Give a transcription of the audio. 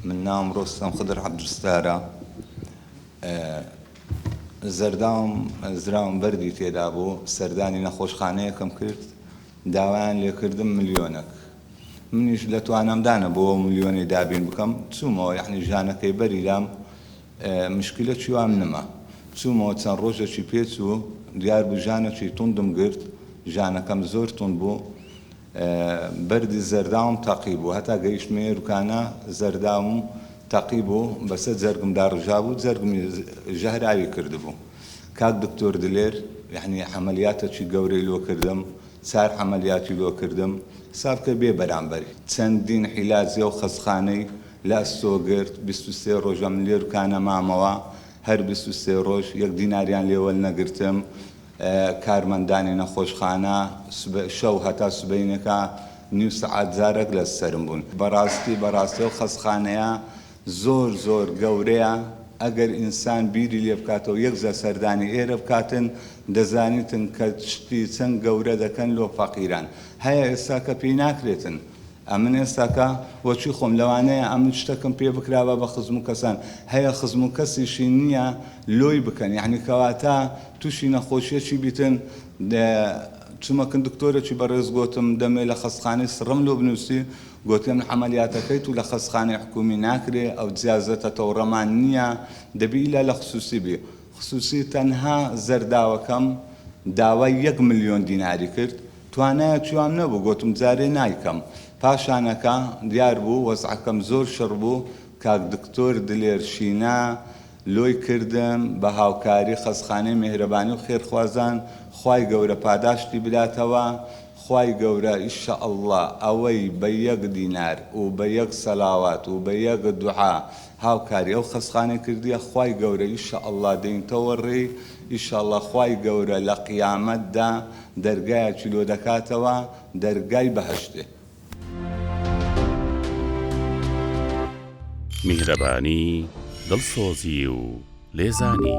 من ناوم ڕۆستەم خدر عەبدولستارە زەرداوم زراوم بەردی تێدا بوو سەردانی نەخۆشخانەیەکم کرد داوایان لێکردم ملیۆنەک منیش لە توانامدانە بۆ ملیۆنەی دابین بکەم چوومەوە یعنی ژانەکەی بەری لام مشکلە چیوام نما چوومەوە چەند ڕۆژێکی پێچوو دیار بوو ژانەکی توندم گرت ژانەکەم زۆر تون بوو بەردی زەرداوم تەقی بوو هەتا گەیشتمە ئێروکانە زەرداوم تەقی بوو بەسەر جەرگم داڕژابوو جەرگمی ژەهراوی کردبوو کاک دکتۆر دلێر یەعنی عەمەلیاتەکی گەورەی لۆ کردم چار عەمەلیاتی لۆ کردم حساب کە بێ بەرامبەر چەندین عیلاجی و خەستخانەی لە ئەستۆ گرت بیست و سێ ڕۆژەم لێروکانە مامەوە هەر بیست و سێ ڕۆژ یەک دیناریان لێ وەلنەگرتم کارمەندانی نەخۆشخانە شەو هەتا سبەینێکە نیو سەعات جارەک لە سەرم بوون بەڕاستی بەڕاستی ئەو خەسخانەیە زۆر زۆر گەورەیە ئەگەر ئینسان بیری لێ بکاتەوە یەک جار سەردانی ئێرە بکاتن دەزانیتن کە شتی چەند گەورە دەکەن لۆ فەقیران هەیە ئێستا کە پێی ناکرێتن ئەمن ئێستا کە وەچوی خۆم لەوانەیە ئەمن شتەکم پێ بکرابا بە خزم و کەسان هەیە خزم و کەسیشی نیە لۆی بکەن یەعنی کەواتە توشی نەخۆشیەکی بیتن چمەکن دکتۆرەکی بەڕێز گۆتم دەمێ لە خەستخانەی سڕم لۆ بنوسی گۆتی ئەمن عەمەلیاتەکەی تو لە خەستخانەی حکومی ناکرێ ئەو جیازەتە تەوڕەمان نیە دەبی ئیلا لە خسوسی بی خسووسی تەنها زەرداوەکەم داوای یەک ملیۆن دیناری کرد، توانایەکی وام نەبوو، گۆتم جارێ نایکەم. پاشانەکە دیار بوو وەزعەکەم زۆر شڕ بوو، کاک دکتۆر دلێر شینا لۆی کردم بە هاوکاری خەستخانەی مێهرەبانی و خێرخوازان، خوای گەورە پاداشتی بداتەوە، خوای گەورە ان شاء اللە ئەوەی بە یەک دینار و بە یەک سەلاوات و بە یەک دوعا هاوکاری ئەو خەسخانەی کردیە خوای گەورە ئیشە اللە دێینتەوە ڕێی ئیشاڵا خوای گەورە لە قیامەت دا دەرگایەکی لۆ دەکاتەوە دەرگای بەهەشتێ. میهرەبانی دڵسۆزی و لێزانی.